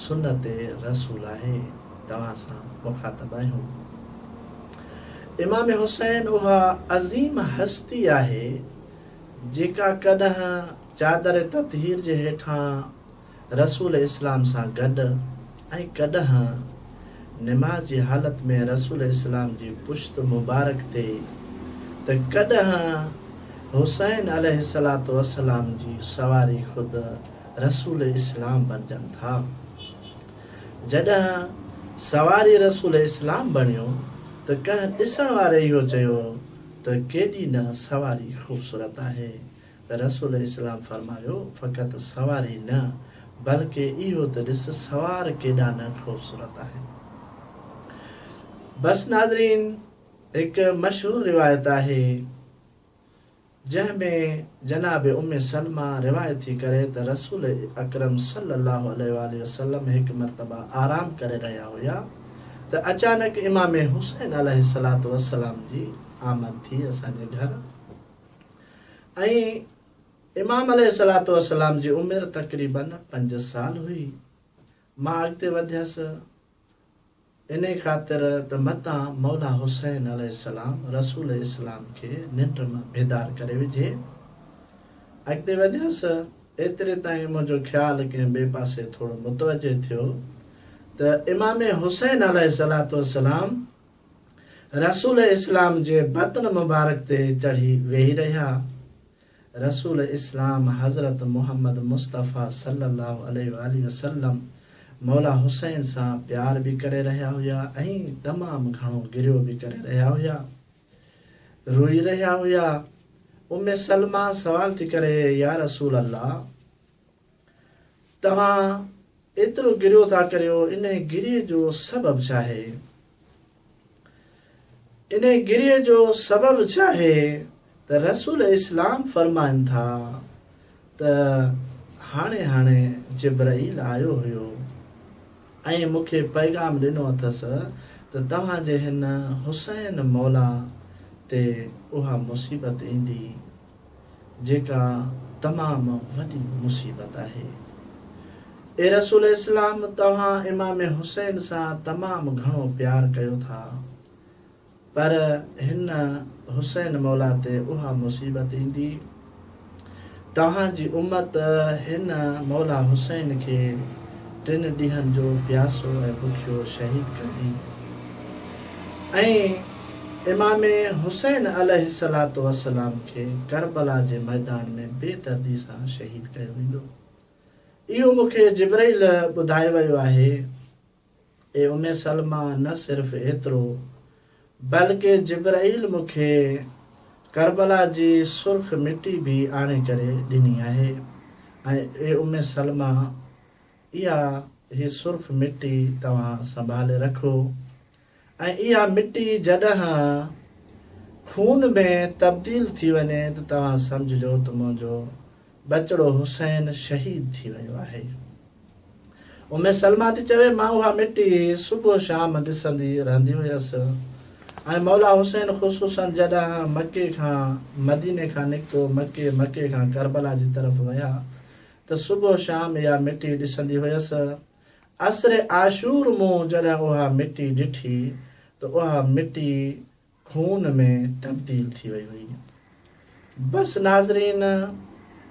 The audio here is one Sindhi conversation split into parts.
سنت رسول آهي توهان سان مخاطب آهيون امام حسين اها عظيم هستي آهي جيڪا ڪڏهن چادر تطهير جي هيٺان رسول اسلام سان گڏ ۽ ڪڏهن نماز جي حالت ۾ رسول اسلام جي پشت مبارڪ تي ته ڪڏهن حسين عليه الصلوة والسلام جي سواري خود رسول اسلام بڻجن ٿا. جڏهن سواري رسول اسلام بڻيو ته ڪنهن ڏسڻ واري اهو چيو ته ڪيڏي نه سواري خوبصورت آهي ته رسول اسلام فرمايو فقط سواري نه بلڪه اهو ته ڏس سوار ڪيڏا نه خوبصورت آهن. بس ناظرين هڪ مشهور روايت آهي. جنهن ۾ جناب ام سلمه روايت ٿي ڪري ته رسول اڪرم صلي الله عليه واٰله وسلم هڪ مرتبه آرام ڪري رهيا هيا ته اچانڪ امام حسين عليه الصلوة والسلام جي آمد ٿي اسان جي گهر ۽ امام عليه الصلوة والسلام جي عمر تقريبن پنج سال هئي مان اڳتي وڌيس. انهيء خاطر ته متان مولا حسين عليه السلام رسول اسلام کي ننڊ مان بيدار ڪري وجهي. اڳتي وڌيس، ايتري تائين منهنجو خيال ڪنهن ٻئي پاسي ٿورو متوجه ٿيو ته امام حسين عليه الصلوة والسلام رسول اسلام جي بطن مبارڪ تي چڙهي ويهي رهيا رسول اسلام حضرت محمد مصطفيٰ صلّي اللّٰه عليه واٰله وسلّم مولا حسين سان پيار به ڪري رهيا هيا ۽ تمام گهڻو گريو به ڪري رهيا هيا، روئي رهيا هيا. ام سلميٰ سوال ٿي ڪري، يا رسول الله! توهان ايترو گريو ٿا ڪريو انهي گريء جو سبب ڇاهي؟ انهي گريء جو سبب ڇاهي ته رسول اسلام فرمائن ٿا ته هاڻي هاڻي جبرئيل آيو هيو ۽ مون کي پيغام ڏنو اٿس ته توهان جي هن حسين مولان تي اها مصيبت ايندي. جيڪا تمام وڏي مصيبت آهي. اي رسول اسلام! توهان امام حسين سان تمام گهڻو پيار ڪيو ٿا، پر هن حسين مولا تي اها مصيبت ايندي، توهان جي امت هن مولا حسين کي، ٽن ڏينهن جو پياسو ۽ بکيو شهيد ڪندي ۽ امام حسين عليه الصلوة والسلام کي ڪربلا جي ميدان ۾ بي دردي سان شهيد ڪيو ويندو. اهو مون کي جبرئيل ٻڌائي ويو آهي. اي ام سلميٰ نه صرف ايترو بلڪه جبرائيل مون کي ڪربلا جي سرخ مٽي به آڻي ڪري ڏني آهي ۽ اي ام سلمه اها هي سرخ مٽي توهان سنڀالي رکو ۽ اها مٽي جڏهن خون ۾ تبديل ٿي وڃي ته توهان سمجهجو ته منهنجو ٻچڙو حسين شهيد ٿي ويو آهي. ام سلميٰ ٿي چوي، مان اها مٽي صبح و شام ڏسندي رهندي هيس ۽ مولا حسين خصوصاً جڏهن مڪي کان مديني کان نڪتو مڪي مڪي کان ڪربلا جي طرف ويا ته صبح و شام اها مٽي ڏسندي هيس. عصر عاشور مون جڏهن اها مٽي ڏٺي ته اها مٽي خون ۾ تبديل ٿي وئي هئي. بس ناظرين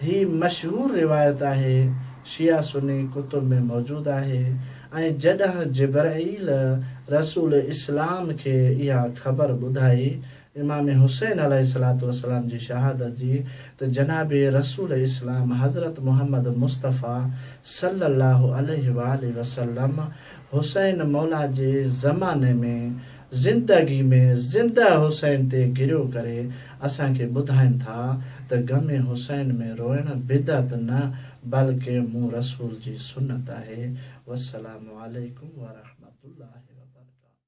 هي مشهور روايت آهي شيعه سني ڪتب ۾ موجود آهي ۽ جڏهن جبرئيل رسول اسلام کي اها خبر ٻڌائي امام حسين عليه الصلوة والسلام جي شهادت جي ته جناب رسول اسلام حضرت محمد مصطفي صلّي الله عليه واٰله وسلّم حسين مولا جي زماني ۾ زندگي ۾ زنده حسين تي گريو ڪري اسان کي ٻڌائين ٿا ته غم حسين ۾ روئڻ بدعت نه بلڪه مون رسول جي سنت آهي والسلام عليڪم ورحمة الله وبرڪاته.